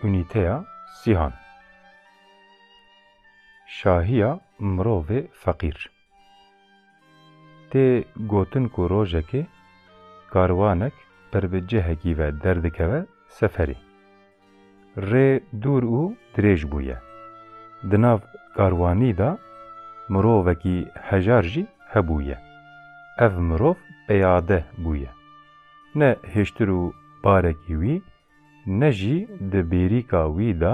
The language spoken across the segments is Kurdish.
Unîteya Sîhan Şahiya mirovê feqîr Tê gotin ku rojekê karwanek ber bi cihekî ve derdikeve seferê. Rê dûr û dirêj bûye. Di nav karwanî de mirovekî hejar jî hebûye. Ev mirov peyade bûye. Ne hiştir û barekî wî ne jî di bêrîka wî de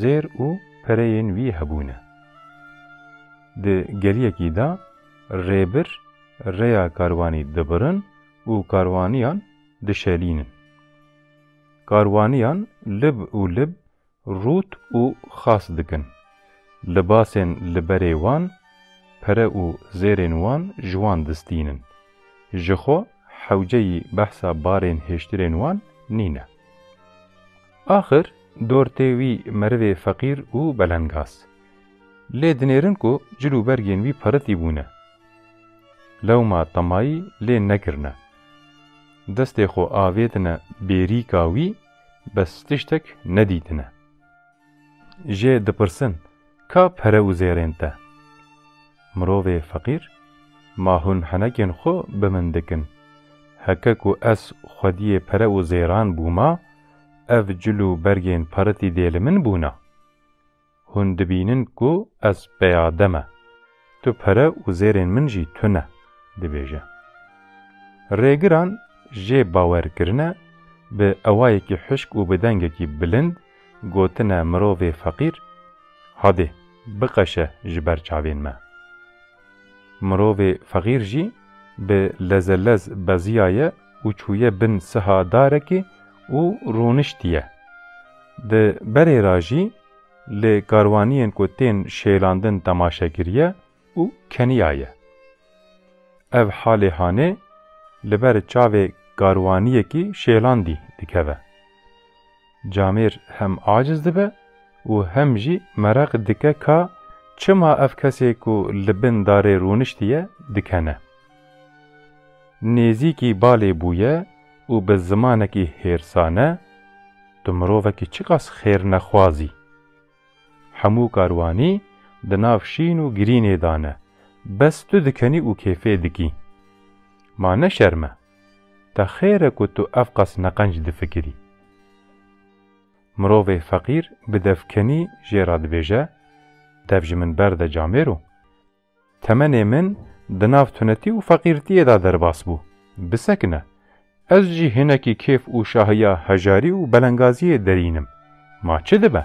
zêr û pereyên wî hebûne. Di geliyekî de rêbir rêya karwanî dibirin û karwaniyan dişelînin. Karwaniyan lib û lib rût û xas dikin. Libasên li berê wan, pere û zêrên wan ji wan distînin. Ji xwe hewceyî behsa barên hêştirên wan nîne. Axir dor tê wî merivê feqîr û belengaz. Lê dinêrin ku cil û bergên wî piritî bûne. Lewma temayî lê nekirine. Destê xwe avêtine bêrîka wî bes tiştek nedîtine. Jê dipirsin ka pere û zêrên te? Mirovê feqîr, Ma hûn henekên xwe bi min dikin. Heke ku ez xwediyê pere û zêran bûma, ev cil û bergên paritî dê li min bûna? Hûn dibînin ku ez peyade me. Tu pere û zêrên min jî tune, dibêje. Rêgiran jê bawer kirine, bi ewayekî hişk û bi dengekî bilind gotine mirovê feqîr, Hadê, biqeşe ji ber çavên me. Mirovê feqîr jî bi lezelez beziyaye û çûye bin siha darekê û rûniştiye. Di berê ra jî li karwaniyên ku tên şêlandin temaşe kiriye û keniyaye. Ev halê hanê li ber çavê karwaniyekî şêlandî dikeve. Camêr hem aciz dibe û hem jî mereq dike ka çima ev kesê ku li bin darê rûniştiye dikene. Nêzîkî balê bûye û bi zimanekî hêrsane, Tu mirovekî çiqas xêrnexwaz î. Hemû karwanî di nav şîn û girînê de ne, bes tu dikenî û kêfê dikî. Ma ne şerm e. Te xêr e ku tu evqas neqenc difikirî. Mirovê feqîr bi devkenî jê re dibêje, Dev ji min berde camêro. Temenê min di nav tunetî û feqîrtiyê de derbas bû. Bisekine. Ez jî hinekî kêf û şahiya hejarî û belengaziyê derîn im. Ma çi dibe?